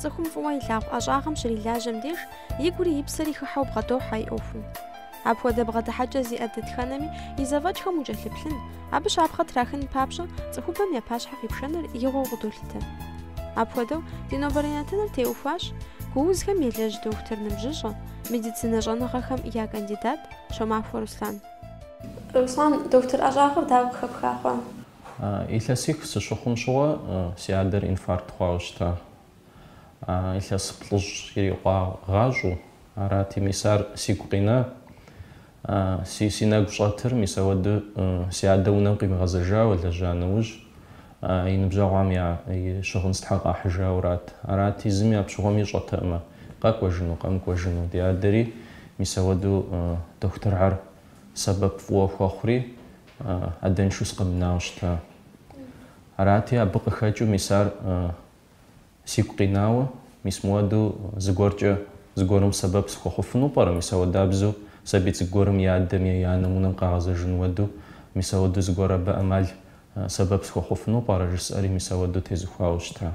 Цӏыхум фӏыуэ илъагъу ӏэщӏагъэм щрилажьэм деж и гури и псэри хыхьэу бгъэдохьэ и ӏуэхум. Апхуэдэ бгъэдыхьэкӏэ зиӏэ дэтхэнэми и зэфӏэкӏхэм укӏэлъыплъын, абы щапхъэ трахын папщӏэ цӏыхубэм я пащхьэ къипшэныр игъуэу къыдолъытэ. Апхуэдэу ди нобэрей нэтыныр теухуащ гуузхэм елэжь дохутыр ныбжьыщӏэ, медицинэ щӏэныгъэхэм я кандидат Щомахуэ Руслан. Руслан, дохутыр ӏэщӏагъэр дауэ къыхэпха хъуа? Илъэсих сыщыхъум щыгъуэ си адэр инфаркт хъуауэ щыта. Илъэс плӏыщӏ ирикъуагъащӏэу арати, мис ар сигу къина. Си си нэгу щӏэтыр мис ауэду си адэ унэм къимыгъэзэжауэ лэжьа нэужь, и ныбжьэгъуам и щыгъын стхьэ къахьыжаурат. Арати, зыми апщыгъуэм ищӏэтэкъымэ, къэкӏуэжыну, къэмыкӏуэжыну. Ди адэри мис ауэду дохутырхьэр сэбэп фӏыуэ хуэхъури, Адэншу сыкъэмынауэ щыта. Арати, абы къыхэкӏыу мис ар сигу къинауэ, мис мыуэду зыгуэркӏэ зыгуэрым сэбэп сыхуэхъуфыну пӏэрэ, мис ауэдабзэу сабий цӏыкӏу гуэрым и адэм е и анэм унэм къагъэзэжын уэду, мис ауэду зыгуэр абы ӏэмал, сэбэп сыхуэхъуфыну пӏэрэ жысӏэри, мис ауэду тезухуауэ щыта.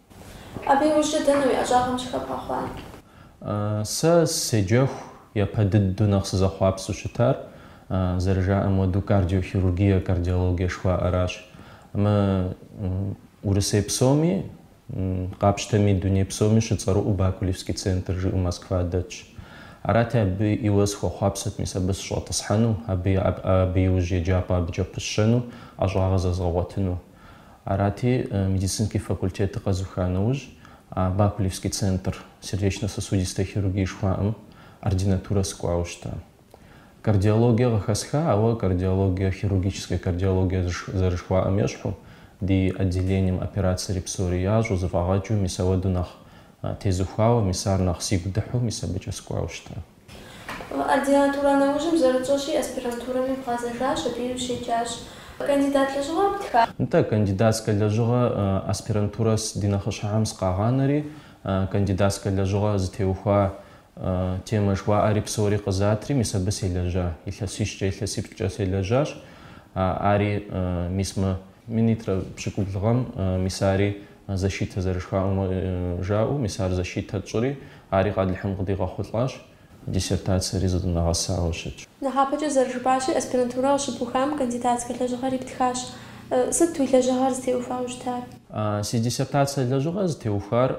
Абы и ужькӏэ дэнэ уи ӏэщӏагъэм щыхэбгъэхъуар? Сэ седжэху япэ дыдэу нэхъ сызэхъуапсэу щытар, зэрыжаӏэм хуэдэу, кардиохирургие, кардиологие жыхуаӏэращ. Мы Урысей псоми, къапщтэми, дуней псоми щыцӏэрыӏуэу Бакулевский центр жиӏэу Москва дэтщ. Арати, абы иуэ сыхуэхъуапсэт мис абы сыщӏэтӏысхьэну, абы и абы иужь еджапӏэ абыкӏэ пысщэну, ӏэщӏагъэ зэзгъэгъуэтыну. Арати, медицинский факультетыр къэзуха нэужь, а Бакулевский центр сердечно-сосудистой хирургии жыхуаӏэм ординатурэ сыкӏуауэ щыта. Кардиологие къыхэсха, ауэ кардиологие, хирургическая кардиологие зэрыжыхуаӏэм ещхьу, ди отделением операцэри псори ящӏу, зэфӏагъэкӏыу, мис ауэду нэхъ тезухуауэ, мис ар нэхъ сигу дыхьу, мис абыкӏэ сыкӏуауэ щыта. Ординатурэ нэужьым зэрытщӏэщи, аспирантурэми бгъэзэжащ, абыи ущеджащ. Кандидат лэжьыгъэ птха? Нтӏэ, кандидатскэ лэжьыгъэ аспирантурэ ди нэхъыщхьэхэм сыкъагъанэри, кандидатскэ лэжьыгъэ зытеухуа темэ жыхуаӏэри псори къызатри, мис абы селэжьа. Илъэсищкӏэ, илъэсиплӏкӏэ селэжьащ. Ари мис мы минитӏрэ пщыкӏубл гъэм, мис ари защитэ зэрыжыхуаӏэм жаӏэу, мис ар защитэ тщӏыри, ари Алыхьым къыдигъэхъулӏащ, диссертацэри зыдынэгъэсауэ щытщ. Нэхъапэкӏэ зэрыжыпӏащи, аспирантурэ къыщыбухам кандидатскэ лэжьыгъэри птхащ. Сыт уи лэжьыгъэр зытеухуауэ щытар? Си диссертацэ лэжьыгъэр зытеухуар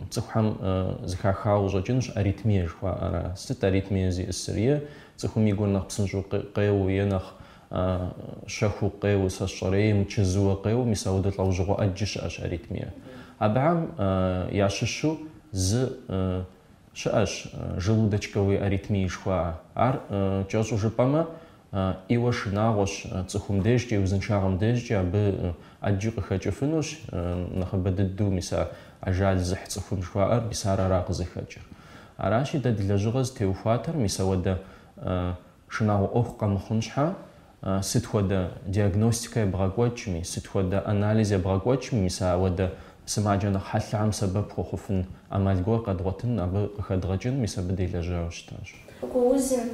цӏыхухэм зыхахауэ къыщӏэкӏынущ аритмие жыхуаӏэра. Сыт аритмие зиӏысыр? Е цӏыхум и гур нэхъ псынщӏэу къеуэу е нэхъ А щэхуу къеуэ сэ сщӏэрей, мычэзууэ къеуэ мис ауэдэ лӏэужьыгъуэ ӏэджи щыӏэщ аритмие. Абыхэм ящыщу зы щыӏэщ желудочковые аритмии жыхуаӏэ. Ар кӏэщӏу жыпӏэмэ, ӏейуэ шынагъуэщ, цӏыхум дежкӏэ, и узыншагъэм дежкӏи абы ӏэджи къыхэкӏыфынущ, нэхъыбэ дыдэу мис а ажал зыхь цӏыхум жыхуаӏэр мис ар ара къызыхэкӏыр. Аращи, дэ ди лэжьыгъэ зытеухуатэр мис ауэдэ Шынагъуэ ӏуэху къэмыхъун щхьэ, сыт хуэдэ диагностикэ ебгъэкӏуэкӏми, сыт хуэдэ анализ ебгъэкӏуэкӏми, мис ауэдэ сымаджэ нэхъ хьэлъэхэм сэбэп хуэхъуфын ӏэмал гуэр къэдгъуэтын, абы къыхэдгъэкӏын, мис абы делэжьауэ щытащ. Гуузым,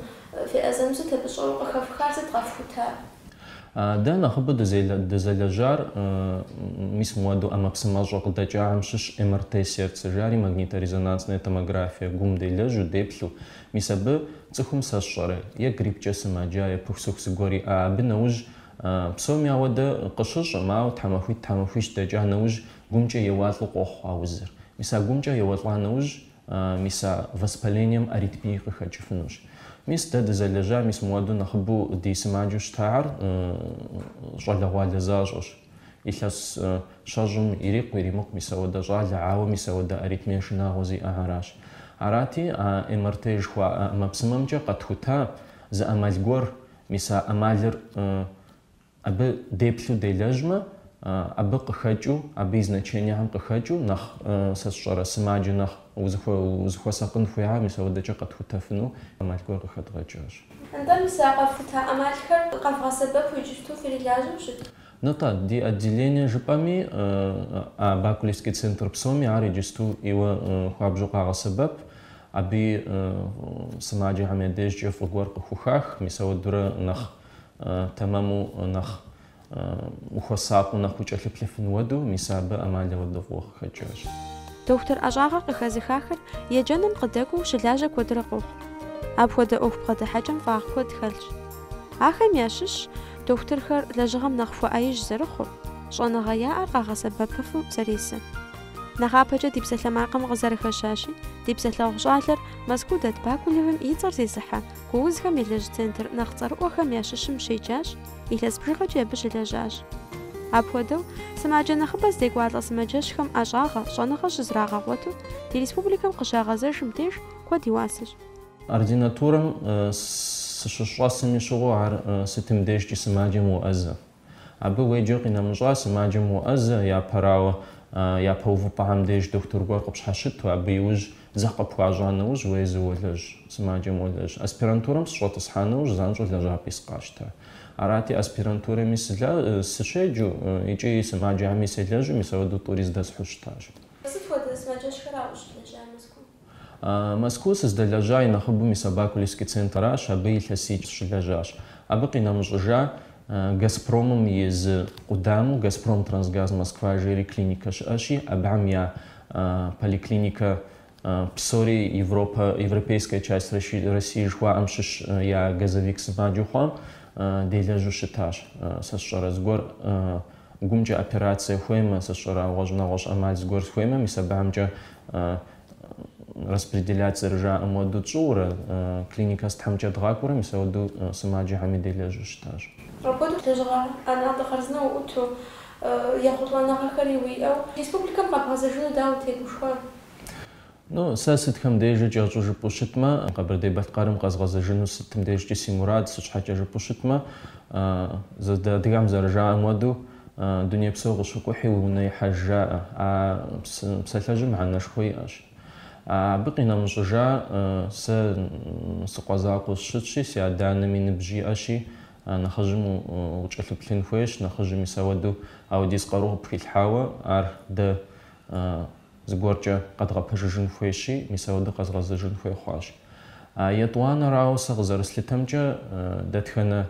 феӏэзэм сыт абы щӏэуэ къыхэфхар, сыт къэфхутар? Дэ нэхъыбэу дызэлэжьар, мис мыуэду ӏэмэпсымэщӏэ къыдэкӏахэм щыщ МРТ сердца жари, магниторезонансная томография, гум делэжьу, деплъу, Мис абы цӏыхум сэ сщӏэрэ, е гриппкӏэ сымаджа, е пыхусыху зыгуэр иӏа, абы нэужь псоми ауэдэ къыщыщӏым, ауэ тхьэмахуитӏ-тхьэмахуищ дэкӏа нэужь гумкӏэ еуалӏэу къохъу а узыр. Мис а гумкӏэ еуэлӏа нэужь, мис а воспалением аритмие къыхэкӏыфынущ. Мис дэ дызэлэжьа, мис мыуэду нэхъыбэу ди сымаджэу щытахэр щӏалэгъуалэ защӏэщ. Илъэс щэщӏым ирикъу-иримыкъу мис ауэдэ щӏалэ, ауэ мис ауэдэ аритмие шынагъуэ зиӏэхэращ. Арати, а МРТ жыхуаӏэ ӏэмэпсымэмкӏэ къэтхута зы ӏэмал гуэр, мис а ӏэмалыр абы деплъу делэжьмэ, абы къыхэкӏыу, абы и значениехьэм къыхэкӏыу нэхъ, сэ сщӏэрэ, сымаджэ нэхъ Узыхуэсакъын хуейхэр мис ауэдэкӏэ къэтхутэфыну ӏэмал гуэр къыхэдгъэкӏащ. Атӏэ мис а къэфхута ӏэмалхэр къэвгъэсэбэпу иджыпсту фырилажьэу щыт? Нтӏэ, ди отделение жыпӏэми, а Бакулевский центр псоми ар иджысту ӏейуэ хуабжьу къагъэсэбэп. Абыи сымаджэхэм я дежкӏэ фӏы гуэр къыхухах, мис ауэдурэ нэхъ тэмэму, нэхъ Ухуэсакъыу нэхъ укӏэлъыплъыфын уэду, мис абы ӏэмал ауэдэ фӏыуэ къыхэкӏащ. Дохутыр ӏэщӏагъэ къыхэзыхахэр еджэным къыдэкӏуэу щылажьэ куэдрэ къохъу. Апхуэдэ ӏуэху бгъэдыхьэкӏэм фӏагъ куэд хэлъщ. Ахэм ящыщщ дохутырхэр лэжьыгъэм нэхъ хуэӏэижь зэрыхъур, щӏэныгъэ яӏэр къагъэсэбэпыфу зэресэр. Нэхъапэкӏэ ди псалъэмакъым къызэрыхэщащи, ди псалъэгъу щӏалэр Мэзкуу дэт Бакулевым и цӏэр зезыхьэ гуузхэм елэжь центр нэхъ цӏэрыӏуэхэм ящыщым щеджащ, Илъэс бжыгъэкӏи абы щылэжьащ. Апхуэдэу, сымаджэ нэхъыбэ здекӏуалӏэ сымаджэщхэм ӏэщӏагъэ, щӏэныгъэ щызрагъэгъуэту ди республикэм къыщагъэзэжым деж куэд и уасэщ. Ординатурэм сыщыщӏэсым и щыгъуэ ар сытым дежкӏи сымаджэм уоӏэзэ. Абы уеджэ къинэмыщӏа сымаджэм уоӏэзэ, япэрауэ, япэ увыпӏэхэм деж дохутыр гуэр къыпщхьэщыту, абы иужь Дзыхь къыпхуащӏа нэужь уезу уолэжь, сымаджэм уолэжь. Аспирантурэм сыщӏэтӏысхьа нэужь занщӏэу лэжьапӏи сыкъащтэ. Арати, аспирантурэми сы, сыщеджэу икӏи сымаджэми селэжьу мис ауэдэу тӏури здэсхьу щытащ. Сыт хуэдэ сымаджэщхэра ущылэжьа Мэзкуу? Мэзкуу сыздэлэжьа и нэхъыбэу мис а Бакулевский центращ, абы илъэсих сыщылэжьащ. Абы къинэмыщӏыжа Газпромым и зы къудамэу Газпром-Трансгаз-Москва жери клиникэ щыӏэщи, абыхэм я поликлиникэ, псори Европэ, европейская часть России жыхуаӏэм щыщ я газовик сымаджэу хъуам делэжьу щытащ. Сэ сщӏэрэ зыгуэр гумкӏэ операцие хуеймэ, сэ сщӏэрэ гъуэщӏ нэгъуэщӏ ӏэмал зыгуэр схуеймэ, мис абыхэмкӏэ распределять зэрыжаӏэм уэду тщӏыурэ, клиникэ сытхьэмкӏэ дгъакӏуурэ, мис ауэду сымаджэхэми делэжьу щытащ. Апхуэдэу лэжьыгъэ ӏэнатӏэ хъарзынэ уӏуту, Ехъулӏэныгъэхэри уиӏэу республикэм къэбгъэзэжыну дауэ утегушхуа? Ну, сэ сытхэм дежи кӏэщӏу жыпӏэу щытмэ, Къэбэрдей-Балъкъэрым къэзгъэзэжыну сытым дежкӏи си мурад, сыт щхьэкӏэ жыпӏэу щытмэ, зэ дэ адыгэм зэрыжаӏэм уэду, Дуней псо къыщыкӏухьи уи унэ ихьэж жаӏэ. А псалъэжьым мыхьэнэшхуэ иӏэщ. Абы къинэмыщӏыжа, сэ сыкъуэ закъуэу сщытщи, си адэ-анэми ныбжь иӏэщи, А нэхъыжьым укӏэлъыплъын хуейщ, нэхъыжьым мис ауэду ауэдиз къару къыпхилъхьауэ, ар дэ зыгуэркӏэ къэдгъэпэжыжын хуейщи, мис ауэду къэзгъэзэжын хуей хъуащ. А етӏуанэрауэ сэ къызэрыслъытэмкӏэ, дэтхэнэ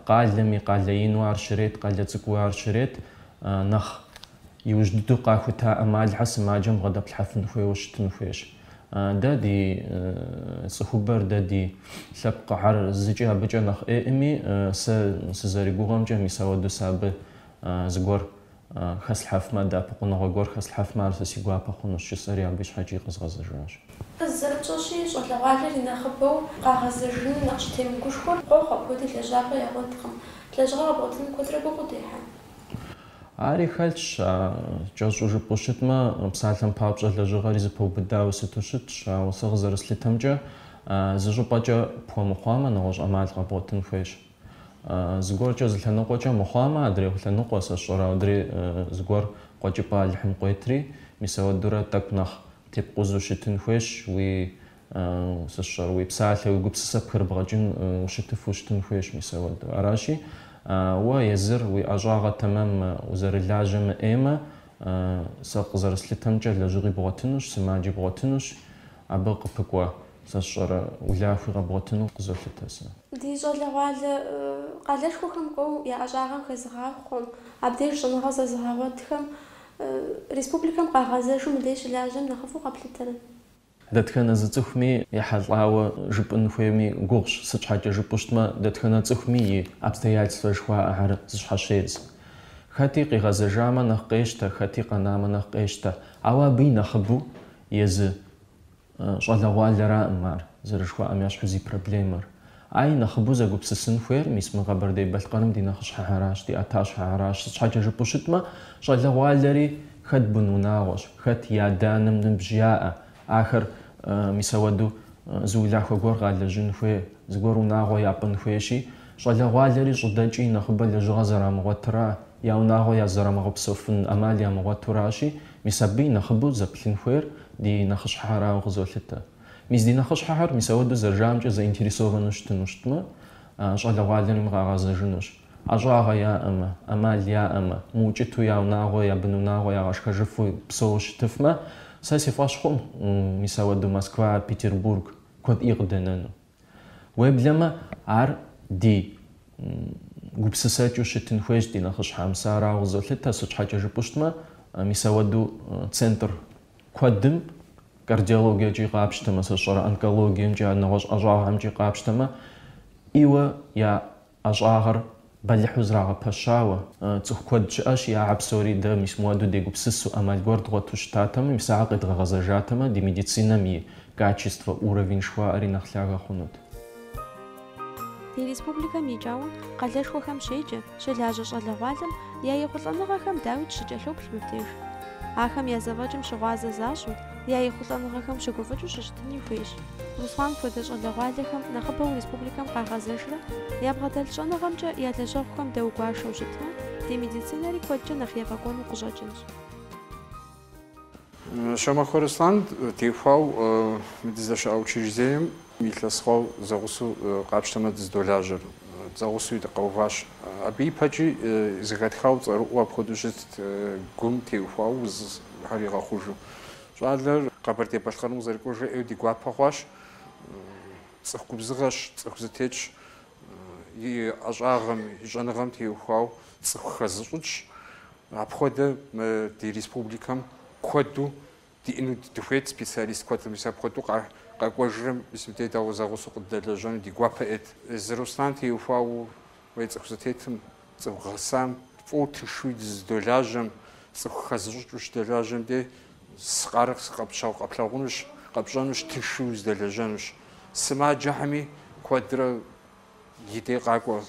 къалэми къалэ ину ар щрет, къалэ цӏыкӏуу ар щрет, нэхъ Иужь дыдэу къахута ӏэмалхэр сымаджэм бгъэдэплъхьэфын хуейуэ щытын хуейщ. Дэ ди цӏыхубэр, дэ ди лъэпкъыхьэр зыкӏи абыкӏэ нэхъ ӏейкъыми, сэ сызэригугъэмкӏэ, мис ауэдэу сэ абы зыгуэр хэслъхьэфмэ, дэӏэпыкъуныгъэ гуэр хэслъхьэфмэ, ар сэ си гуапэ хъунущ, жысӏэри абы щхьэкӏи къэзгъэзэжащ. Зэрыпщӏэщи, щӏалэгъуалэр и нэхъыбэу къагъэзэжыным нэхъ щытемыгушхуэр къохъу, апхуэдэу лэжьапӏэ ягъуэткъым. Лэжьыгъэ къэбгъуэтыным куэдрэ гугъу удехьа? Ари хэлъщ, а кӏэщӏу жыпӏэу щытмэ, псалъэм папщӏэ лэжьыгъэри зэпэубыдауэ сыту щытщ, ауэ сэ къызэрыслъытэмкӏэ, зы щӏыпӏэкӏэ пхуэмыхъуамэ, нэгъуэщӏ ӏэмал къэбгъуэтын хуейщ. Зыгуэркӏэ зы лъэныкъуэкӏэ мыхъуамэ, адрей лъэныкъуэ, сэ сщӏэрэ, аудри зыгуэр къуэкӏыпӏэ Алыхьым къуетри, мис ауэдурэ тӏэкӏу нэхъ тепкъузу щытын хуейщ, уи Сэ сщӏэрэ, уи псалъэ, уи гупсысэ пхырыбгъэкӏын ущытыфу щытын хуейщ мис ауэдэу. Аращи, уэ езыр уи ӏэщӏагъэ тэмэммэ, узэрылажьэ мыӏеймэ, сэ къызэрыслъытэмкӏэ лэжьыгъи бгъуэтынущ, сымаджи бгъуэтынущ, абы къыпыкӏуэ, сэ сщӏэрэ, улахуи къэбгъуэтыну къызолъытэ сэ. Ди щӏалэгъуалэ къалэшхуэхэм кӏуэу я ӏэщӏагъэм хэзыгъахъуэм, абдеж щӏэныгъэ зэзыгъэгъуэтхэм республикэм къагъэзэжу мыбдей щылажьэм нэхъыфӏу къэплъытэрэ? Дэтхэнэ зы цӏыхуми ехьэлӏауэ жыпӏын хуейми гугъущ, сыт щхьэкӏэ жыпӏэу щытмэ, дэтхэнэ цӏыхуми и обстоятельствэр жыхуаӏэхэр зыщхьэщедз. Хэти къигъэзэжамэ нэхъ къещтэ, хэти къэнамэ нэхъ къещтэ. Ауэ абы и нэхъыбэу езы щӏалэгъуалэраӏым ар, зэрыжыхуаӏэм ящхьу зи проблемэр. Ай, нэхъыбэу зэгупсысын хуейр, мис мы Къэбэрдей-Балъкъэрым ди нэхъыщхьэхьэращ, ди ӏэтащхьэхьэращ, сыт щхьэкӏэ жыпӏэу щытмэ, щӏалэгъуалэри хэт бын унагъуэщ, хэт и адэ-анэм ныбжь яӏэ, ахэр, мис ауэду, зы улахуэ гуэр къалэжьын хуей, зыгуэр унагъуэ япӏын хуейщи, щӏалэгъуалэри щӏыдэкӏ и нэхъыбэ лэжьыгъэ зэрамыгъуэтра, я унагъуэ я зэрамыгъэпсэуфын ӏэмал ямыгъуэтуращи, мис абы и нэхъыбэу зэплъын хуейр ди нэхъыщхьэхьэрауэ къызолъытэ. Мис ди нэхъыщхьэхэр мис ауэдэу зэрыжаӏэмкӏэ заинтересованэу щытыну щытмэ, щӏалэгъуалэри къагъэзэжынущ. ӏэщӏагъэ яӏэмэ, ӏэмал яӏэмэ, мыукӏыту я унагъуэ, я бын унагъуэ ягъэшхэжыфу псэууэ щытыфмэ, сэ си фӏэщ хъум, мис ауэдэу Москва, Петербург куэд ӏей къыдэнэну. Уеблэмэ, ар ди гупсысэкӏыу щытын хуейщ ди нэхъыщхьэм. Сэ арауэ къызолъытэ, сыт щхьэкӏэ жыпӏэу щытмэ, мис ауэдэу центр Куэдым, кардиологиекӏи къапщтэмэ, сэ сщӏэрэ онкологиемкӏи а нэгъуэщӏ ӏэщӏагъэмкӏи къапщтэмэ, ӏейуэ я ӏэщӏагъэр бэлыхьу зрагъэпэщауэ, цӏыху куэд щыӏэщ, ахьэ псори дэ мис муэду дегупсысу, ӏэмал гуэр дгъуэту щытатэмэ, мис ахэр къедгъэгъэзэжатэмэ, ди медицинэм и качество, уровень жыхуаӏэри нэхъ лъагэ хъунут. Ди республикэм икӏауэ къалэшхуэхэм щеджэ, щылажьэ щӏалэгъуалэм я ехъулӏэныгъэхэм дауикӏ щыкӏэлъоплъ мыбдеж. Ахэм я зэфӏэкӏым щыгъуазэ защӏу, я ехъулӏэныгъэхэм щыгуфӏыкӏыу щыщытыни хуейщ. Руслан хуэдэ щӏалэгъуалэхэм нэхъыбэу республикэм къагъэзэжрэ ябгъэдэлъ щӏэныгъэмкӏэ я лэжьэгъухэм дэгуашэу щытмэ, ди медицинэри куэдкӏэ нэхъ ефӏэкӏуэну къыщӏэкӏынщ. Шомахуэ Руслан теухуауэ мы дыздэщыӏэ учреждением илъэс хъуауэ зэгъусэу къапщтэмэ дыздолажьэр. Дызэгъусэуи дыкъэуващ. Абы ипэкӏи зыхэтхауэ цӏэрыӏуэу апхуэдэу щытт, гум теухуауэ узхэр игъэхъужу. Щӏалэр Къэбэрдей-Балъкъэрым къызэрыкӏуэжыр ӏейуэ ди гуапэ хъуащ. Цӏыху губзыгъэщ, цӏыху зэтетщ. И ӏэщӏагъэм, и щӏэныгъэм теухуауэ цӏыху хэзыщӏыкӏщ. Апхуэдэ мы ди республикэм куэду диӏэну дыхуейт, специалист куэд мис апхуэдэу къэкӏуэжрэ мис мыбдеж дауэ зэгъусэу къыддэлэжьэну ди гуапэ ӏейт. Езы Руслан теухуауэ уей цӏыху зэтетым, цӏыху гъэсам, фӏыуэ тыншуи дыздолажьэм, цӏыху хэзыщӏыкӏыу щыдэлажьэм дей сыкъарэ сыкъэпщау къэплъагъунущ, къэпщӏэнущ, тыншуи уздэлэжьэнущ. Сымаджэхьэми куэдрэ. И дей къакӏуэ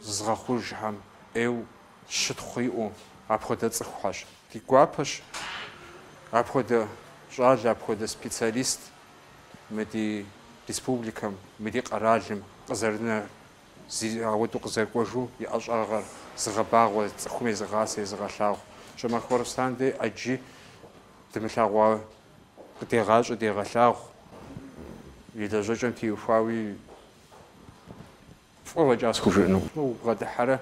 зызыгъэхъужхэм ӏейу щытхъу иӏэу апхуэдэ цӏыхухэщ. Ди гуапэщ апхуэдэ щӏалэ, апхуэдэ специалист мы ди республикэм, мы ди къэралым къызэрынэр, зи ауэдэу къызэрыкӏуэжу и ӏэщӏагъэр зыгъэбагъуэ, цӏыхум езыгъасэ, езыгъэлъагъу. Щомахуэ Руслан дей ӏэджи дымылъэгъуа Къыдегъащӏэ, дегъэлъагъу, и лэжьэкӏэм теухуауи фӏы фӏэкӏа схужыӏэнукъым. Убгъэдыхьэрэ,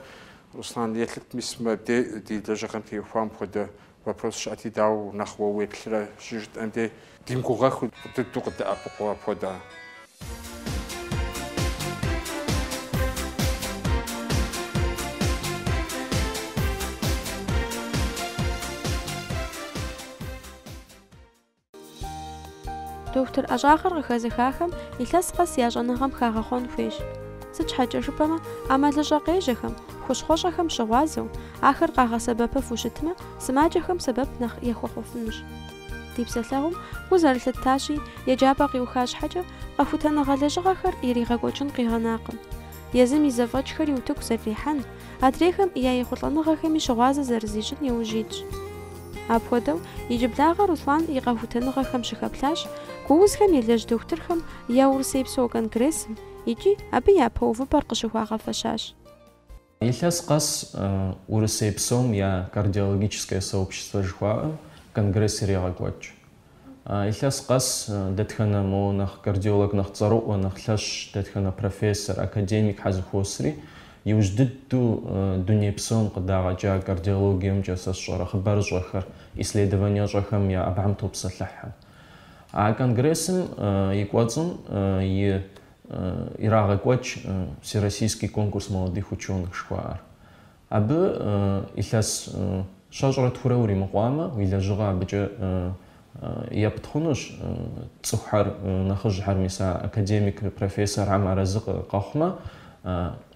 Руслан, еплъыт, мис мыбде, ди лэжьыгъэм теухуам хуэдэ вопрос щыӏэти, дауэ нэхъ уэ уеплърэ, щыжытӏэм де димыгугъэххэу дыдэу къыдэӏэпыкъуу апхуэдэ. Дохутыр ӏэщӏагъэр къыхэзыхахэм илъэс къэс я щӏэныгъэм хагъэхъуэн хуейщ. Сыт щхьэкӏэ жыпӏэмэ, ӏэмалыщӏэ къежьэхэм, хущхъуэщӏэхэм щыгъуазэу, ахэр къагъэсэбэпыфу щытмэ, сымаджэхэм сэбэп нэхъ яхуэхъуфынущ. Ди псэлъэгъум гу зэрылъыттащи, еджапӏэ къиуха щхьэкӏэ, къэхутэныгъэ лэжьыгъэхэр иригъэкӏуэкӏын къигъэнакъым. Езым и зэфӏэкӏхэри утыку зэрырихьэн, адрейхэм я ехъулӏэныгъэхэми щыгъуазэ зэрызищӏын иужь итщ. Апхуэдэу, иджыблагъэ Руслан и къэхутэныгъэхэм щыхэплъащ гу узхэм елэжь дохутырхэм я Урысейпсо конгрессым икӏи абы япэ увыпӏэр къыщыхуагъэфэщащ. Илъэс къэс Урысей псом я кардиологическое сообщество жыхуаӏэм конгресс ирегъэкӏуэкӏ. Илъэс къэс дэтхэнэ мо нэхъ кардиолог нэхъ цӏэрыӏуэ, нэхъ лъэщ, дэтхэнэ профессор, академикхэр зэхуосри, иужь дыдэу дуней псом къыдагъэкӏа кардиологиемкӏэ сэ сщӏэрэ хъыбарыщӏэхэр, исследованиещӏэхэм я абыхэм топсэлъыхьэ. А конгрессым и кӏуэцӏым и ирагъэкӏуэкӏ Всероссийский конкурс молодых ученых жыхуаӏэр. Абы илъэс щэщӏрэ тхурэ уримыкъуамэ, уи лэжьыгъэ абыкӏэ епт хъунущ, цӏыхухэр нэхъыжьхэр, мис а академик, профессорхэм арэзы къэхъумэ,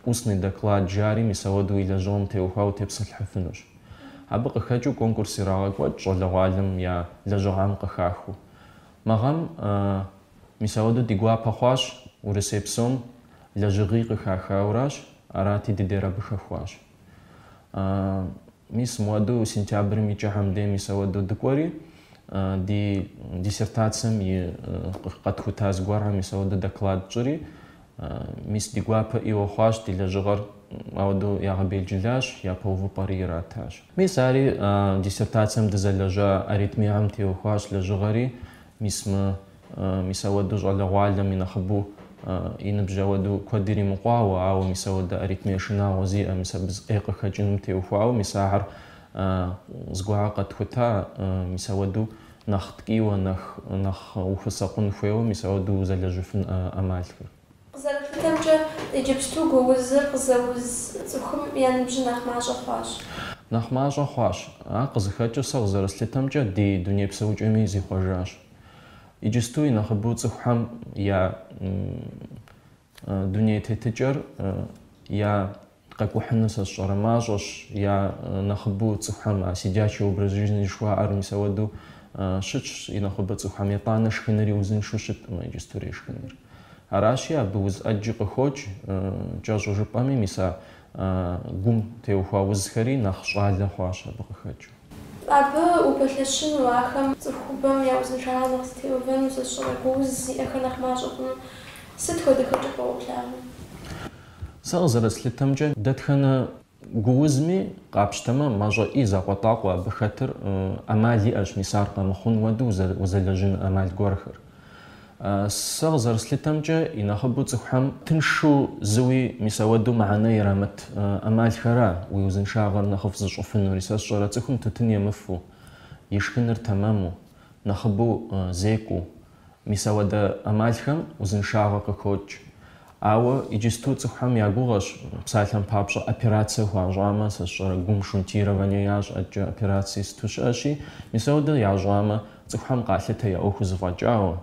устный доклад жари мис ауэду уи лэжьыгъэм теухуауэ утепсэлъыхьыфынущ. Абы къыхэкӏыу конкурс ирагъэкӏуэкӏ щӏалэгъуалэм я лэжьыгъэм къыхахыу. Мы гъэм мис ауэдэу ди гуапэ хъуащ Урысей псом лэжьыгъий къыхахауращ, арати дыдер абы хэхуащ. Мис мыуэдэу сентябрым и кӏыхьэм дей мис ауэдэу дыкӏуэри, ди диссертацием и къэтхута зыгуэрхэм мис ауэдэу доклад тщӏри, Мис ди гуапэ ӏейуэ хъуащ ди лэжьыгъэр, ауэдэу ягъэбелджылащ, япэ увыпӏэри иратащ. Мис ари диссертацием дызэлэжьа аритмиям теухуащ лэжьыгъэри, мис мы, мис ауэдэу щӏалэгъуалэм и нэхъыбэу, и ныбжь ауэдэу куэд иримыкъуауэ, ауэ мис ауэдэ аритмие шынагъуэ зиӏэ, мис абы зы ӏей къыхэкӏынум теухуауэ, мис ахэр зыгуэрхэ къэтхута, мис ауэдэу нэхъ ткӏийуэ, нэхъ нэхъ ухуэсакъун хуейуэ, мис ауэдэу узэлэжьыфын ӏэмалхэр. Къызэрыплъытэмкӏэ, иджыпсту гуузыр къызэуз цӏыхум я ныбжьыр нэхъ мащӏэ хъуащ. Нэхъ мащӏэ хъуащ. Ар къызыхэкӏыу сэ къызэрыслъытэмкӏэ, ди дуней псэукӏэми зихъуэжащ. Иджысту и нэхъыбэу цӏыхухэм я Дуней тетыкӏэр я къэкӏухьыну сэ сщӏэрэ мащӏэщ, я нэхъыбэу цӏыхухэм а сидячий образ жизни жыхуаӏэр мис ауэдэу щытщ, и нэхъыбэу цӏыхухэм етӏанэ шхыныри узыншэу щыткъым а иджыстурей шхыныр. Аращи, абы уз ӏэджи къыхокӏ, кӏэщӏу жыпӏэми, мис а гум теухуа узхэри нэхъ щӏалэ хъуащ абы къыхэкӏыу. Абы упэлъэщыну, ахэм цӏыхубэм я узыншагъэр нэхъ зэтеувэну, сщӏэрэ, гууз зиӏэхэр нэхъ мащӏэ хъуну сыт хуэдэ хэкӏыпӏэ уолъагъу? Сэ къызэрыслъытэмкӏэ, дэтхэнэ гуузми къапщтэмэ, мащӏэ, и закъуэтӏакъуэ абы хэтыр ӏэмал иӏэщ, мис ар къэмыхъун хуэдэу узэлэжьыну ӏэмал гуэрхэр. Сэ къызэрыслъытэмкӏэ, и нэхъыбэу цӏыхухэм тыншу, зыуи мис ауэдэу мыхьэнэ ирамыт ӏэмалхэра уи узыншагъэр нэхъыфӏ зыщӏыфынури? Сэ сщӏэрэ, цӏыхум тутын емыфу, и шхыныр тэмэму, нэхъыбэу зекӏуу, мис ауэдэ ӏэмалхэм узыншагъэ къыхокӏ. Ауэ иджысту цӏыхухэм я гугъэщ, псалъэм папщӏэ операцие хуащӏамэ, сэ сщӏэрэ гум шунтирование ящӏ, ӏэкӏэ операцие сыту щыӏэщи, мис ауэдэ ящӏамэ, цӏыхухэм къалъытэ я ӏуэхур зэфӏэкӏауэ,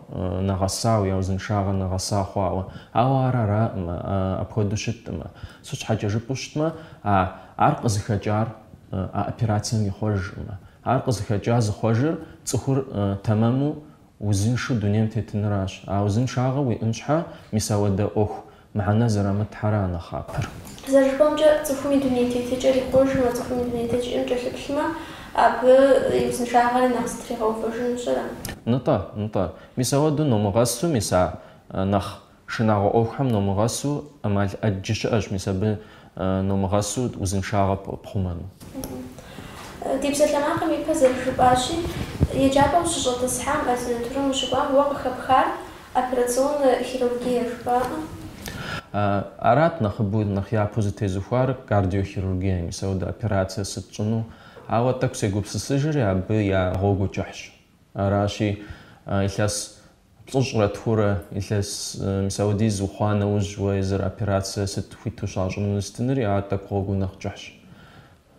нэгъэсауэ, я узыншагъэр нэгъэса хъуауэ. Ауэ ар аракъымэ, апхуэдэу щыткъымэ. Сыт щхьэкӏэ жыпӏэу щытмэ, а ар къызыхэкӏар а операцием ихъуэжкъымэ. Ар къызыхэкӏар зыхъуэжыр цӏыхур тэмэму Узыншэу дунейм тетыныращ. А узыншагъэр уиӏэн щхьэ, мис ауэдэ ӏуэху мыхьэнэ зэрамытхэра а нэхъапэр. Зэрыжыпӏэмкӏэ, цӏыхум и дунейтетыкӏэр ихъуэжмэ, цӏыхум и дунейтетыкӏэм кӏэлъыплъмэ, абы и узыншагъэри нэхъ зэтригъэувэжынущ, ара? Нтӏэ, нтӏэ. Мис ауэдэу номыгъэсу, мис а нэхъ Шынагъуэ ӏуэхухэм номыгъэсу ӏэмал ӏэджи щыӏэщ, мис абы номыгъэсу узыншагъэ пхъумэну. Ди псалъэмакъым ипэ зэрыжыпӏащи, еджапӏэм щыщӏэтӏысхьам, ординатурэм ущыкӏуам уэ къыхэпхар операционнэ хирургие жыпӏакъым? Арат нэхъыбэу, нэхъ япэу зытезыхуар кардиохирургие, мис ауэдэ операцие сыт щӏыну? Ауэ тӏэкӏу сегупсысыжри абы я гъуэгу кӏыхьщ. Аращи, илъэс Плӏыщӏрэ тхурэ илъэс мис ауэдиз ухъуа нэужь уэ езыр операцие сыт хуиту щащӏыну сытынри ар тӏэкӏу гъуэгу нэхъ кӏыхьщ.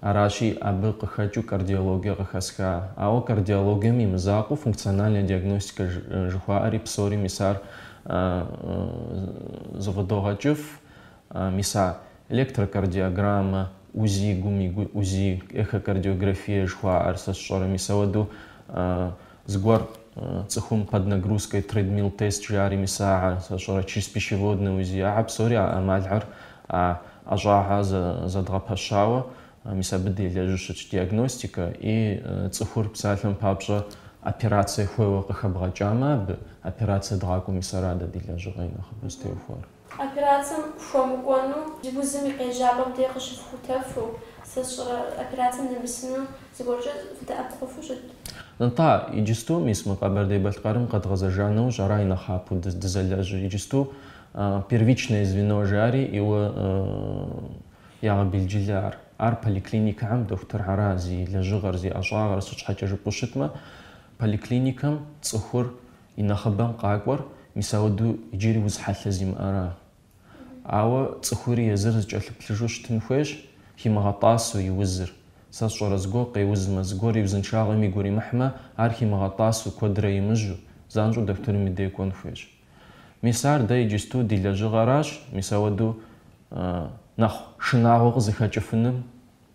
Аращи, абы къыхэкӏыу кардиологие къыхэсха. Ауэ кардиологием и мызакъуэу функциональная диагностика жыхуаӏэри псори мис ар зыфӏыдогъэкӏыф, мис а электрокардиограммэ, УЗИ, гум и УЗИ, эхокардиографие жыхуаӏэр сэ сщӏэрэ мис ауэдэу Зыгуэр цӏыхум под нагрузкой тредмилл тест жари мис ахьэ сэ сщӏэрэ чреспищеводнэ УЗИ ахьэ псори а ӏэмалхэр а ӏэщӏагъэ зэдгъэпэщауэ мис абы делэжьу щытщ диагностикэ и цӏыхур псалъэм папщӏэ операцие хуейуэ къыхэбгъэкӏамэ абы операцие дгъакӏуэу мис ара дэ ди лэжьыгъэ и нэхъыбэу зытеухуар. Операцэм хуэмыкӏуэну узым и къежьапӏэм де къыщыфхутэфу, сэ сщӏэрэ, операцэм нэмысыну зыгуэркӏэ фыдэӏэпыкъуфу щыт? Нтӏэ, иджысту, мис, мы Къэбэрдей-Балъкъэрым къэдгъэзэжа нэужь ара и нэхъапэу дызэлэжьыр? Иджысту первичное звено жари иуэ ягъэбелджылэ ар. Ар поликлиникэхэм дохутырхьэра зи лэжьыгъэр, зи ӏэщӏагъэр, сыт щхьэкӏэ жыпӏэу щытмэ, поликлиникэм цӏыхур И нэхъыбэм къакӏуэр мис ауэдэу иджыри уз хьэлъэ зимыӏэра? Ауэ цӏыхури езыр зыкӏэлъыплъыжу щытын хуейщ, химыгъэтӏасэу и узыр. Сэ сщӏэрэ зыгуэр къеузмэ, зыгуэр и узыншагъэм игу иримыхьмэ, ар химыгъэтӏасэу, куэдрэ имыжьу, занщӏэу дохутырым и дей кӏуэн хуейщ. Мис ар дэ иджысту ди лэжьыгъэращ, мис ауэдэу нэхъ шынагъуэ къызыхэкӏыфыным.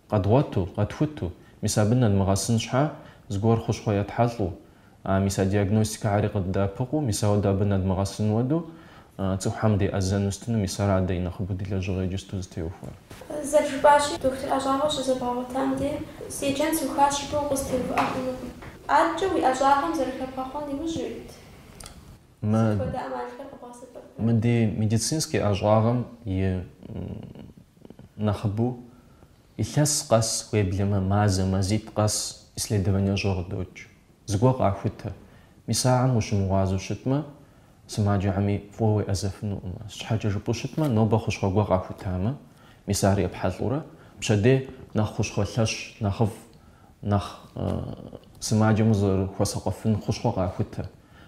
Къэдгъуэту, къэтхуту, мис абы нэдмыгъэсын щхьа, зыгуэр хущхъуэ етхьэлӏу, а мис а диагностикэхьэри къыддэӏэпыкъуу, мис ауэдэу абы нэдмыгъэсын уэду, цӏыхухэм деӏэзэну сытыну, мис ара дэ и нэхъыбэу ди лэжьыгъэ иджысту зытеухуар. Зэрыжыпӏащи, дохутыр ӏэщӏагъэу щызэбгъэгъуэтам дей, седжэн сухащ жыпӏэу укъызэтеувыӏэ хъунукъым. Адэкӏэ уи ӏэщӏагъэм зэрыхэбгъэхъуэн иужь уит. Сыт хуэдэ ӏэмалхэр къэбгъэсэбэпрэ? Мы ди медицинскэ ӏэщӏагъэм и Нэхъыбэу, илъэс къэс, уеблэмэ мазэ, мазитӏ къэс исследование щӏэ къыдокӏ. Зыгуэр къахутэ. Мис ахэм ущымыгъуазэу щытмэ, сымаджэхэми фӏыуэ уеӏэзэфынукъым. Сыт щхьэкӏэ жыпӏэу щытмэ, нобэ хущхъуэ гуэр къахутамэ, мис ар епхьэлӏурэ, пщэдей нэхъ хущхъуэ лъэщ нэхъыфӏ, нэхъ сымаджэм узэрыхуэсакъуэфын хущхъуэ къахутэ.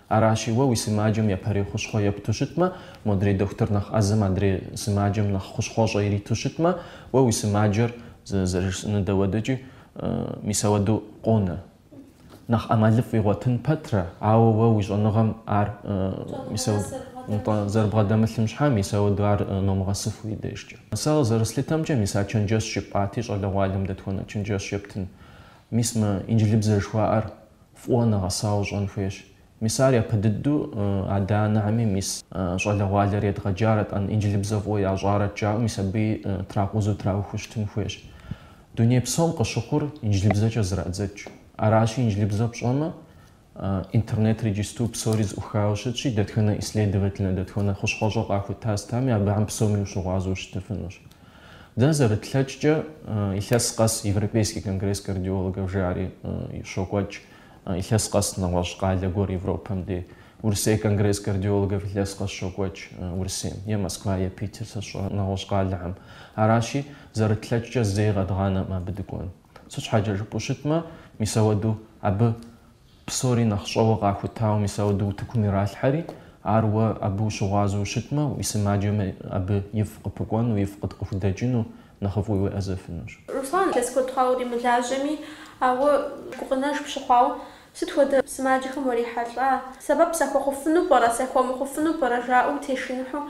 Аращи, уэ уи сымаджэм япэрей хущхъуэ епту щытмэ, модрей дохутыр нэхъ ӏэзэм адрей сымаджэм нэхъ хущхъуэщӏэ ириту щытмэ, уэ уи сымаджэр, зэрыжысӏэнур дауэдэкӏи, мис ауэдэу къонэ. Нэхъ ӏэмалыфӏ игъуэтын пэтрэ, ауэ уэ уи щӏэныгъэм ар зэрыбгъэдэмылъым щхьэ, мис ауэду ар номыгъэсыф уи дежкӏэ. Сэ зэрыслъытэмкӏэ, мис а чэнджэщ жыпӏати, щӏалэгъуалэм дэтхуэнэ чэнджэщ ептын? Мис мы инджылыбзэ жыхуаӏэр фӏыуэ нэгъэсауэ щӏэн хуейщ. Мис ар япэ дыдэу адэ-анэхьэми, мис щӏалэгъуалэр едгъэджарэт-ӏэн, инджылыбзэ фӏыуэ ящӏарэт жаӏэу, мис абыи тракъузу траухуэу щытын хуейщ. Дуней псом къыщыхъур инджылыбзэкӏэ зэрадзэкӏ. Аращи, инджылыбзэ пщӏэмэ, Интернетыр иджысту псори зыӏухауэ щытщи, дэтхэнэ исследовательнэ, дэтхэнэ хущхъуэщӏэ къахута стами, абыхэм псоми ущыгъуазэу щытыфынущ. Дэ зэрытлъэкӏкӏэ, илъэс къэс Европейский конгресс кардиологов жари щокӏуэкӏ, илъэс къэс нэгъуэщӏ къалэ гуэр Европэм дей. Урысей конгресс кардиологов илъэс къэс щокӏуэкӏ Урысейм, е Москва, е Питер, сэ сщӏэрэ, нэгъуэщӏ къалэхэм. Аращи, зэрытлъэкӏкӏэ зэи къэдгъанэм абы дыкӏуэн. Сыт щхьэкӏэ жыпӏэу щытмэ, мис ауэдэу абы псори нэхъ щӏэуэ къахутауэ, мис ауэдэу утыкум иралъхьэри, ар уэ абы ущыгъуазэу ущытмэ, уи сымаджэми абы ифӏ къыпыкӏуэну, ифӏ къыхудэкӏыну нэхъыфӏу уеӏэзэфынущ. Руслан, илъэс куэд хъуауэ уримылажьэми, ауэ гукъынэж пщыхъуауэ, сыт хуэдэ сымаджэхэм урихьэлӏа? Сэбэп сахуэхъуфыну пӏэрэ, сахуэмыхъуфыну пӏэрэ жаӏэу утешыныхьу,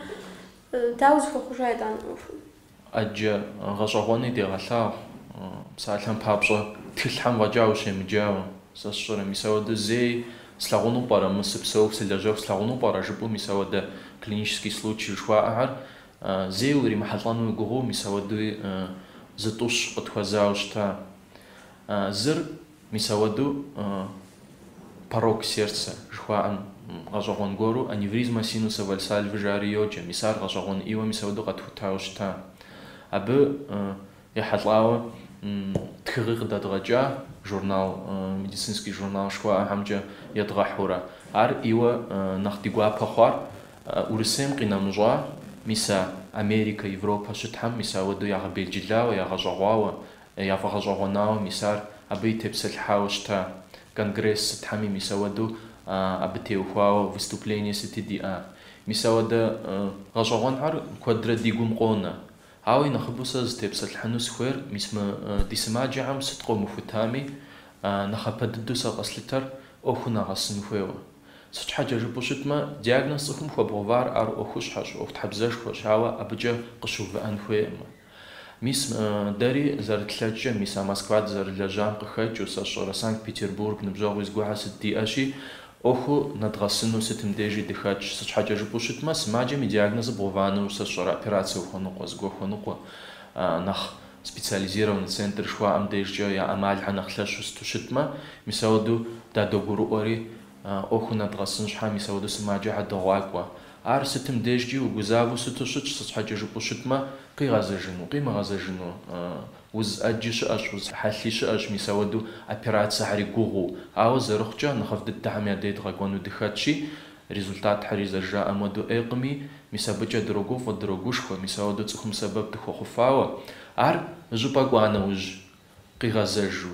дауэ зыхуэхъужа итӏанэ ӏуэхум? Ӏэджэ гъэщӏэгъуэни дегъэлъагъу, псалъэм папщӏэ, тхылъхьэм фӏэкӏа ущемыджауэ. Сэ сщӏэрэ, мис ауэдэ зэи слъагъуну пӏэрэ, мы сыпсэуху, сылэжьэху слъагъуну пӏэрэ жыпӏэу мис ауэдэ клинический случай жыхуаӏэхьэр зэи уримыхьэлӏэну уи гугъэу мис ауэдуи зытӏущ къытхуэзауэ щыта. Зыр. Мис ауэдэу порок сердца жыхуаӏэм гъэщӏэгъуэн гуэру аневризма синуса Вальсальвы жари йоджэ, мис ар гъэщӏэгъуэн ӏийуэ мис ауэдэу къэтхутауэ щыта. Абы ехьэлӏауэ тхыгъи къыдэдгъэкӏа, журнал, медицинский журнал жыхуаӏэхьэмкӏэ едгъэхьурэ. Ар ӏийуэ нэхъ ди гуапэ хъуар Урысейм къинэмыщӏа, мис а Америкэ, Европэ сытхьэм мис ауэдэу ягъэбелджылауэ, ягъэщӏэгъуауэ Яфӏэгъэщӏэгъуэнауэ мис ар абыи тепсэлъыхьауэ щыта. Конгресс сытхьэми мис ауэдэу абы теухуауэ выступление сыти диӏа. Мис ауэдэ гъэщӏэгъуэнхьэр куэдрэ ди гум къонэ. Ауэ и нэхъыбэу сэ зытепсэлъыхьыну сыхуейр мис мы ди сымаджэхэм сыт къомыхутами, нэхъапэ дыдэу сэ къэслъытэр ӏуэхуу нэгъэсын хуейуэ. Сыт щхьэкӏэ жыпӏэу щытмэ, диагноз цӏыхум хуэбгъэувар ар ӏуэхущхьэщ, ӏуэхутхьэбзэшхуэщ, ауэ абыкӏэ къыщыувыӏэн хуейкъым. Мис, дэри зэрытлъэкӏкӏэ, мис а Москва дызэрылэжьам къыхэкӏыу, сэ сщӏэрэ Санкт-Петербург ныбжьэгъуи згуэхьэ сыт диӏэщи, ӏуэхуу нэдгъэсыну сытым дежи дыхэтщ. Сыт щхьэкӏэ жыпӏэу щытмэ, сымаджэм и диагнозыр бгъэувыну, сэ сщӏэрэ операцэ ухуэныкъуэ, зыгуэ хуэныкъуэ, нэхъ специализированный центр жыхуаӏэм дежкӏэ я ӏэмалхьэр нэхъ лъэщу сыту щытмэ, мис ауэду дадогурыӏуэри, ӏуэху нэдгъэсын щхьэ мис ауэду сымаджэхьэ догъакӏуэ. Ар сытым дежкӏи угузавэу сыту щытщ, сыт щхьэкӏэ жыпӏэу щытмэ, къигъэзэжыну, къимыгъэзэжыну, уз ӏэджи щыӏэщ, уз хьэлъи щыӏэщ, мис ауэду операцэхьэри гугъуу. Ауэ зэрыхъукӏэ, нэхъыфӏ дыдэхьэм я дей дгъэкӏуэну дыхэтщи, результатхьэри зэрыжаӏэм уэду ӏейкъыми, мис абыкӏэ дрогуфӏэ, дрогушхуэ, мис ауэду цӏыхум сэбэп дыхуэхъуфауэ. Ар щӏыпӏэ кӏуа нэужь, къигъэзэжу,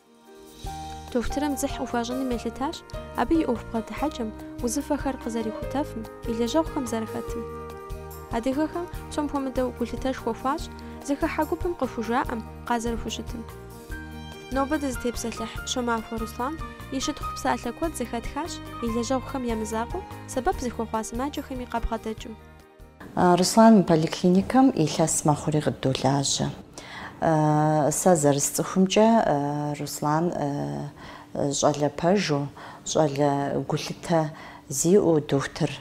Дохутырым дзыхь къыхуащӏыным елъытащ абы и ӏуэху бгъэдыхьэкӏэм, узыфэхэр къызэрихутэфым, и лэжьэгъухэм зэрыхэтым. Адыгэхэм псом хуэмыдэу гулъытэшхуэ хуащӏ зыхыхьэ гупым къыхужаӏэм, къазэрыхущытым. Нобэ дызытепсэлъыхь Щомахуэ Руслан и щытхъу псалъэ куэд зэхэтхащ и лэжьэгъухэм я мызакъуэу, сэбэп зыхуэхъуа сымаджэхэми къабгъэдэкӏыу. Руслан мы поликлиникэм илъэс мэхъури къыддолажьэ. Сэ зэрысцӏыхумкӏэ, Руслан щӏалэ пэжу, щӏалэ гулъытэ зиӏэу, дохутыр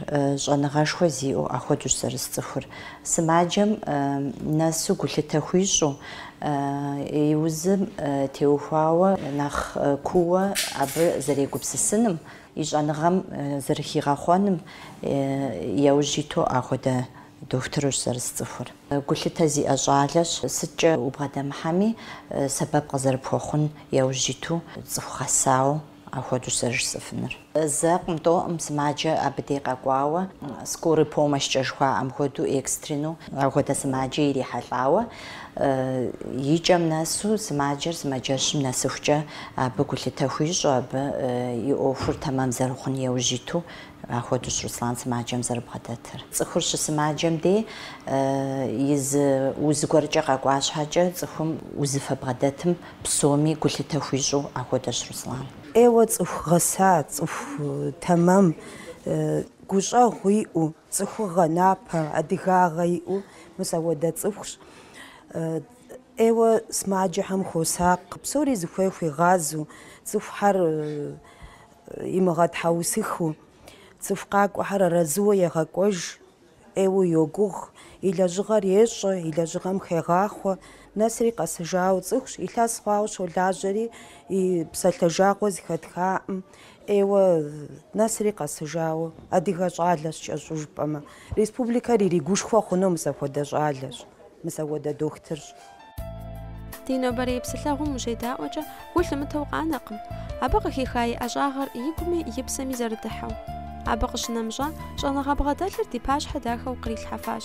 щӏэныгъэшхуэ зиӏэу ахуэдущ зэрысцӏыхур. Сымаджэм нэсу гулъытэ хуищӏу, и узым теухуауэ нэхъ кууэ абы зэрегупсысыным И щӏэныгъэм зэрыхигъэхъуэным яужь иту ахуэдэ дохутырущ зэрысцӏыхур. Гулъытэ зиӏэ щӏалэщ, сыткӏэ убгъэдэмыхьэми, сэбэп къызэрыпхуэхъун яужь иту цӏыху гъэсауэ ахуэдущ зэрыжысӏэфынур. Зэкъым, тӏоӏым сымаджэ абы дей къэкӏуауэ, скорый помощькӏэ жыхуаӏэм хуэдэу, экстренэу ахуэдэ сымаджэ ирихьэлӏауэ И кӏэм нэсу сымаджэр сымаджэщым нэсыхукӏэ абы гулъытэ хуищӏу, абы и ӏуэхур тэмэм зэрыхъун яужь иту ахуэдущ Руслан сымаджэм зэрыбгъэдэтыр. Цӏыхур щысымаджэм дей и зы уз гуэркӏэ къэкӏуа щхьэкӏэ цӏыхум узыфэ бгъэдэтым псоми гулъытэ хуищӏу ахуэдэщ Руслан. ӏейуэ цӏыху гъэса, цӏыху тэмэм, гущӏэгъу иӏэу, Цӏыхугъэ, напэ, адыгагъэ иӏэу мис ауэдэ цӏыхущ. ӏейуэ сымаджэхьэм хуосакъ, псори зыхуей хуигъазэу, цӏыхухьэр имыгъэтхьэусыхыу, цӏыху къакӏуэхьэр арэзыуэ егъэкӏуэж, ӏейуэ йогугъ, и лэжьыгъэр ещӏэ, и лэжьыгъэм хегъахъуэ. Нэсри къэсыжауэ цӏыхущ, илъэс хъуауэ щолажьэри, и псалъэ жагъуэ зыхэтхаӏым, Ейуэ, нэсри къэсыжауэ, адыгэ щӏалэщ кӏэщӏу жыпӏэмэ, республикэр иригушхуэ хъуну мыс апхуэдэ щӏалэщ, мыс апхуэдэ дохтырщ. Ди нобэрей псылъэгъум ущедаӏуэкӏэ, гу лъымытэу къанэкъым. Абы къыхиха и ӏэщӏагъэр игуми и псэми зэрыдыхьэу. Абы къыщынэмыщӏа, щӏэныгъэ бгъэдэлъыр ди пащхьэ дахэу кърилъхьэфащ.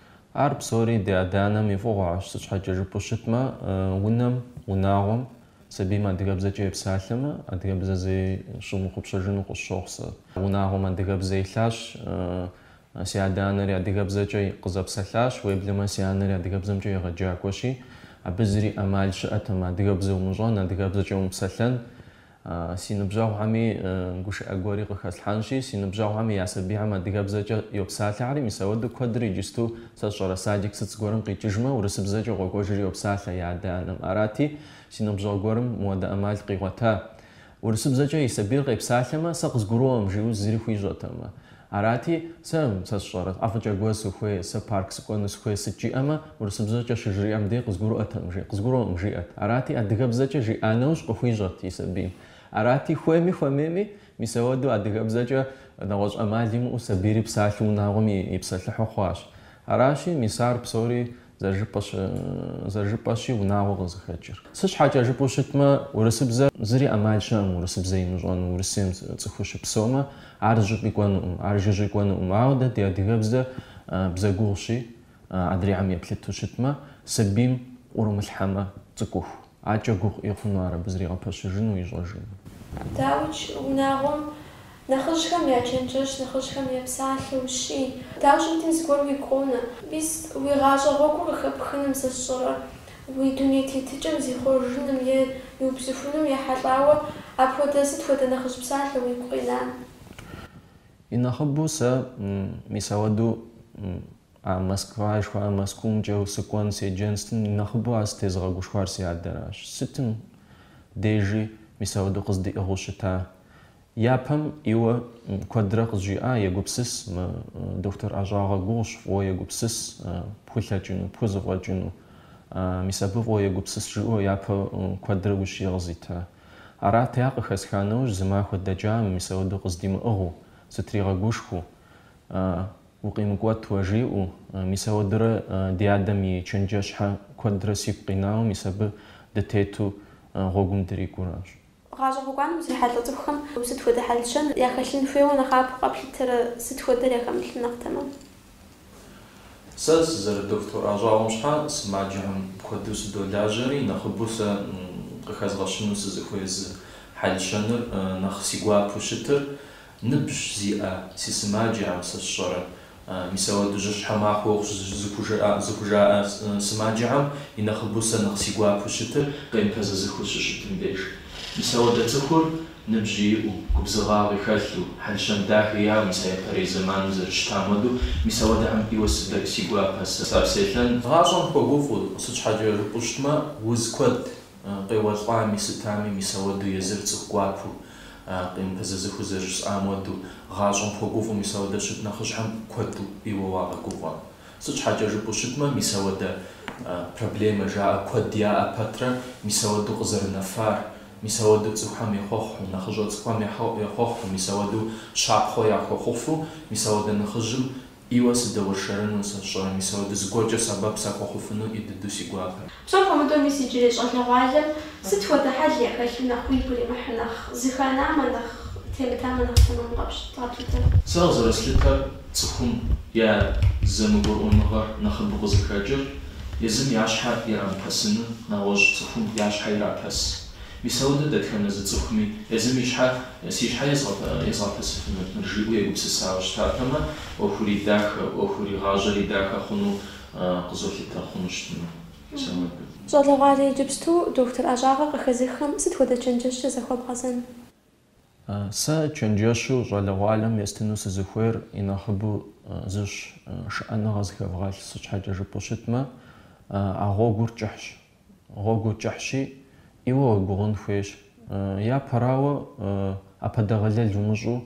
Ар псори ди адэ-анэм и фӏыгъуэщ, сыт щхьэкӏэ жыпӏэу щытмэ, унэм, унагъуэм, сабийм адыгэбзэкӏэ епсалъэмэ, адыгэбзэ зэи щымыхъупщэжыну къысщохъу сэ. Унагъуэм адыгэбзэ илъащ, си адэ-анэри адыгэбзэкӏэ къызэпсэлъащ, уеблэмэ си анэри адыгэбзэмкӏэ егъэджакӏуэщи, абы зыри ӏэмал щыӏэтэм адыгэбзэ умыщӏэн, адыгэбзэкӏэ умыпсэлъэн. Си ныбжьэгъухэми гушыӏэ гуэри къыхэслъхьэнщи, си ныбжьэгъухэми я сабийхьэм адыгэбзэкӏэ йопсалъэхьэри, мис ауэдэу куэдыр иджысту, сэ сщӏэрэ, садик сыт зыгуэрым къикӏыжмэ, урысыбзэкӏэ къокӏуэжри йопсалъэ я адэ-анэм. Арати, си ныбжьэгъу гуэрым мыуэдэ ӏэмал къигъуэта. Урысыбзэкӏэ и сабийр къепсалъэмэ, сэ къызгурыӏуэм, жиӏэу зыри хуищӏэтэм. Арати, сэ, сэ сщӏэрэ, ӏэфӏыкӏэ гуэр сыхуей, сэ парк сыкӏуэну сыхуей сыт жиӏэмэ, урысыбзэкӏэ щыжриӏэм дей къызгурыӏуэкъым, жи, къызгурыӏуэкъым жиӏэт. Арати, адыгэбзэкӏэ жиӏа нэужь къыхуищӏэт и сабийм. Арати, хуейми хуэмейми, мис ауэдэу адыгэбзэкӏэ нэгъуэщӏ ӏэмал имыӏэу сабийри псалъэу унагъуэм ипсэлъыхьу хъуащ. Аращи, мис ар псори Зэрыжыпӏэщи, унагъуэ къызыхэкӏыр. Сыт щхьэкӏэ жыпӏэу щытмэ, урысыбзэ зыри ӏэмал щыӏэкъым урысыбзэ имыщӏэну, Урысейм цӏыхуу щыпсэумэ, ар зыщӏыпӏи кӏуэнукъым, ар жыжьи кӏуэнукъым. Ауэ дэ ди адыгэбзэр бзэ гугъущи, адрейхэм еплъыту щытмэ, сабийм ӏурымылъхьэмэ, цӏыкӏуху. Акӏэ гугъу ӏей хъуну ар абы зригъэпэщыжыну ищӏэжыну. Дауикӏ, унагъуэм нэхъыжьхэм я чэнджэщ, нэхъыжьхэм я псалъэ ущий. Дауэ щымытми зыгуэр уигу къонэ. Мис, уи гъащӏэ гъуэгур къыхэпхыным сэ сщӏэрэ? Уи дуней тетыкӏэм зихъуэжыным е иубзыхуным ехьэлӏауэ апхуэдэ сыт хуэдэ нэхъыжь псалъэ уигу къина? И нэхъыбэу сэ, мис ауэдэу А Москва жыхуаӏэр Мэзкуумкӏэу сыкӏуэн седжэн сытым нэхъыбэу ар сытезыгъэгушхуар си адэращ. Сытым дежи мис ауэдэу къыздиӏыгъыу щыта. Япэм иуэ куэдрэ къызжиӏа, егупсыс, доктор ӏэщӏагъэ гугъущ, фӏыуэ егупсыс пхулъэкӏыну, пхузэфӏэкӏыну. Мис абы фӏыуэ егупсыс жиӏэу япэ куэдрэ ущие къызита. Арати ар къыхэсха нэужь зы махуэ дэкӏам мис ауэдэу къыздимыӏыгъыу, сытригъэгушхуэу. Укъимыкӏуэт уэ, жиӏэу. Мис ауэдэурэ ди адэм и чэнджэщхьэ куэдрэ сигу къинауэ, мис абы дытету гъуэгум дрикӏуэращ. Гъащӏэ гъуэгуанэм узрихьэлӏэ цӏыхухэм сыт хуэдэ хьэл-щэн яхэлъын хуейуэ нэхъапэу къэплъытэрэ, сыт хуэдэр яхэмылъым нэхъ тэмэм? Сэ сызэрыдоктор ӏэщӏагъэм щхьэ сымаджэхэм куэду сыдолажьэри, нэхъыбэу сэ къыхэзгъэщыну сызыхуей зы хьэл-щэныр, нэхъ си гуапэу щытыр, Ныбжь зиӏэ, си сымаджэхэм, сэ сщӏэрэ, мис ауэдэ жьыщхьэ махуэу зыхужаӏэ сымаджэхэм и нэхъыбэу сэ нэхъ си гуапэу щытыр къемыпэзэзэхыу щыщытым деж. Мис ауэдэ цӏыхур ныбжьи иӏэу, губзыгъагъи хэлъу, хьэл-щэн дахи яӏэу, мис а япэрей зэманым зэрыщытам хуэдэу, мис ауэдэхьэм ӏейуэ сыдэк си гуапэ сапсэлъэн. Гъащӏэм хуэгуфӏу, сыт щхьэкӏэ жыпӏэу щытмэ, уз куэд Къеуэлӏами, сытами, мис ауэдэу езыр цӏыху гуапэу, къемыпэзэзэхыу зэрыжысӏам уэду, гъащӏэм хуэгуфӏу, мис ауэдэ щыт нэхъыжьхэм куэду ӏейуэ уагъэгуфӏэ. Сыт щхьэкӏэ жыпӏэу щытмэ, мис ауэдэ проблемэ жаӏэ куэд яӏэ пэтрэ, мис ауэдэу къызэрынэфар, мис ауэдэу цӏыхухэм ехъуэхъу, нэхъыщӏэ цӏыкӏухэм ехъуэхъу, мис ауэдэу щапхъуэ яхуэхъуфу, мис ауэдэ нэхъыжьым, Ӏейуэ сыдэуэршэрыну сэ сщӏэ, мис ауэдэу зыгуэркӏэ сэбэп сахуэхъуфыну ӏей дыду си гуапэ. Псом хуэмыдэу мис иджырей щӏалэгъуалэм сыт хуэдэ хьэл яхэлъу нэхъ уигу иримыхьу, нэхъ зыханамэ, нэхъ темытамэ нэхъ тэмэму къэплъытэрэ? Сэ къызэрыслъытэр цӏыхум я зэмыгурыӏуэныгъэр нэхъыбэу къызыхэкӏыр, езым я щхьэ ирамыпэсыну, нэгъуэщӏ цӏыхум я щхьэ ирапэс. Мис ауэдэ дэтхэнэ зы цӏыхуми езым и щхьэ Си щхьэ езгъэпэсыфынут, жиӏэу егупсысауэ щытатэмэ, ӏуэхури дахэ, ӏуэхури гъащӏэри дахэ хъуну къызолъытэ хъуну щытмэ, сэ мыбы. Щӏалэгъуалэ иджыпсту дохутыр ӏэщӏагъэ къыхэзыххэм сыт хуэдэ чэнджэщкӏэ захуэбгъэзэн? Сэ чэнджэщу щӏалэгъуалэм естыну сызыхуейр и нэхъыбэу зыщ, шыӏэныгъэ зыхэвгъэлъ. Сыт щхьэкӏэ жыпӏэу щытмэ, а гъуэгур кӏыхьщ. Гъуэгур кӏыхьщи, ӏейуэ уегугъун хуейщ. Япэрауэ, ӏэпэдэгъэлэл умыщӏу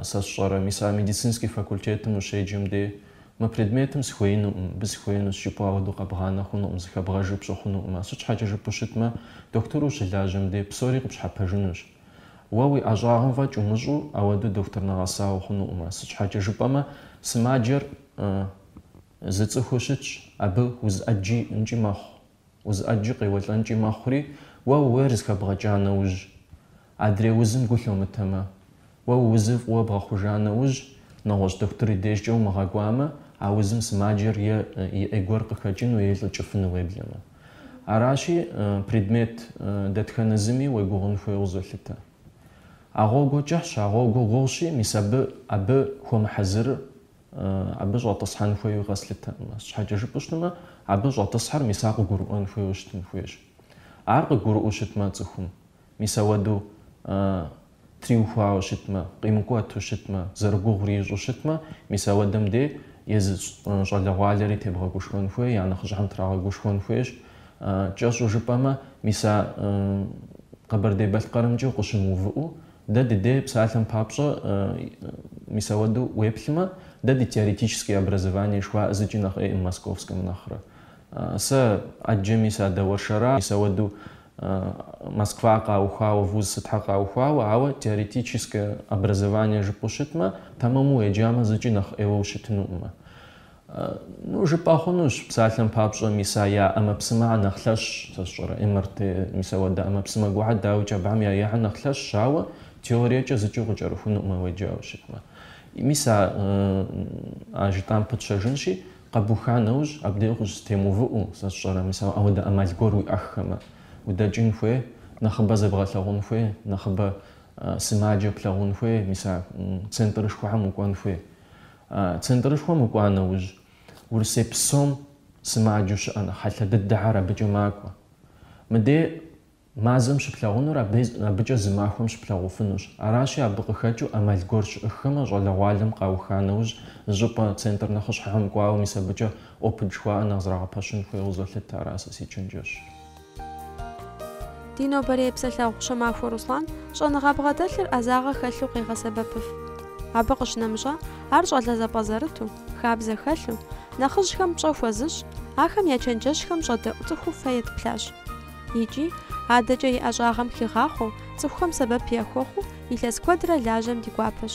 сэ сщӏэрэ, мис а медицинский факультетым ущеджэм дей, мы предметым сыхуеинукъым, мыбы сыхуеинущ жыпӏэу ауэдэу къэбгъанэ хъунукъым, зыхэбгъэжу пщӏы хъунукъым. Сыт щхьэкӏэ жыпӏэу щытмэ, дохутыру ущылажьэм дей псори къыпщхьэпэжынущ. Уэ уи ӏэщӏагъэм фӏэкӏ умыщӏу ауэдэу дохутыр нэгъэса ухъунукъым. Сыт щхьэкӏэ жыпӏэмэ, сымаджэр Зы цӏыхуу щытщ, абы уз ӏэджи иӏэнкӏи мэхъу, уз ӏэджи къеуэлӏэнкӏи мэхъури, уэ ууейр зыхэбгъэкӏа нэужь, адрей узым гу лъумытэмэ, уэ уузыр фӏыуэ бгъэхъужа нэужь, нэгъуэщӏ дохутыр и дежкӏэ умыгъэкӏуамэ, а узым сымаджэр е ӏей гуэр къыхэкӏыну е илӏыкӏыфыну уеблэмэ. Аращи, предмет дэтхэнэ зыми уегугъун хуейуэ къызолъытэ. А гъуэгур кӏыхьщ, а гъуэгур гугъущи, мис абы абы хуэмыхьэзырыр абы щӏэтӏысхьэн хуейуэ къэслъытэкъым. Щхьэкӏэ жыпӏэу щытмэ, абы щӏэтӏысхьэр мис ар къыгурыӏуэн хуейуэ щытын хуейщ. Ар къыгурыӏуэу щытмэ цӏыхум, мис ауэдэу триухуауэ щытмэ, къимыкӏуэту щытмэ, зэрыгугъури ищӏэу щытмэ, мис ауэдэм дей езы щӏалэгъуалэри тебгъэгушхуэн хуей, я нэхъыжьхэм трагъэгушхуэн хуейщ. Кӏэщӏу жыпӏэмэ, мис а Къэбэрдей-Балъкъэрымкӏэ укъыщымыувыӏэу, Дэ ди дей псалъэм папщӏэ, мис ауэду уеплъмэ, дэ ди теоретическое образование жыхуаӏэ зыкӏи нэхъ ӏейкъым московскэм нэхърэ. Сэ ӏэджэми садэуэршэра, мис ауэду Москва къаухуауэ, вуз сытхьэ къаухуауэ, ауэ теоретическэ образование жыпӏэу щытмэ, тэмэму уеджамэ зыкӏи нэхъ ӏейуэ ущытынукъымэ. Ну, жыпӏэ хъунущ, псалъэм папщӏэ, мис а я ӏэмэпсымэхэр нэхъ лъэщщ, сэ сщӏэрэ, МРТ, мис ауэдэ ӏэмэпсымэ гуэрхэр, дауикӏ, абыхэм я ейхэр нэхъ лъэщщ, ауэ теориекӏэ зыкӏи укъыкӏэрыхунукъымэ уеджауэ щытмэ. Мис а, а жытӏам пытщэжынщи, къэбуха нэужь, абдеж укъыщызэтемыувыӏэу, сэ сщӏэрэ, мис ауэдэ ӏэмал гуэр уиӏэххэмэ, удэкӏын хуей, нэхъыбэ зэбгъэлъэгъун хуей, нэхъыбэ сымаджэ плъэгъун хуей, мис а центрышхуэхэм укӏуэн хуей. Центрышхуэм укӏуа нэужь, Урысей псом сымаджэу щыӏэ нэхъ хьэлъэ дыдэхэр абыкӏэ макӏуэ. Мыдей мазэм щыплъагъунур абыкӏэ зы махуэм щыплъагъуфынущ. Аращи, абы къыхэкӏыу ӏэмал гуэр щыӏыххэмэ, щӏалэгъуалэм къауха нэужь, зыщӏыпӏэ центр нэхъыщхьэхэм кӏуауэ мис абыкӏэ опыт жыхуаӏэр нэхъ зрагъэпэщын хуейуэ къызолъытэ, ара сэ си чэнджэщ. Ди нобэрей псэлъэгъу Щомахуэ Руслан щӏэныгъэ бгъэдэлъыр ӏэзагъэ хэлъу къегъэсэбэпыф. Абы къыщынэмыщӏа, ар щӏалэ зэпӏэзэрыту, хабзэ хэлъу, нэхъыжьхэм пщӏэ хуэзыщӏ, ахэм я чэнджэщхэм щӏэдэӏу цӏыхуу фэ етплъащ. Икӏи, адэкӏэ и ӏэщӏагъэм хигъахъуэу, цӏыхухэм сэбэп яхуэхъуу илъэс куэдрэ лажьэм ди гуапэщ.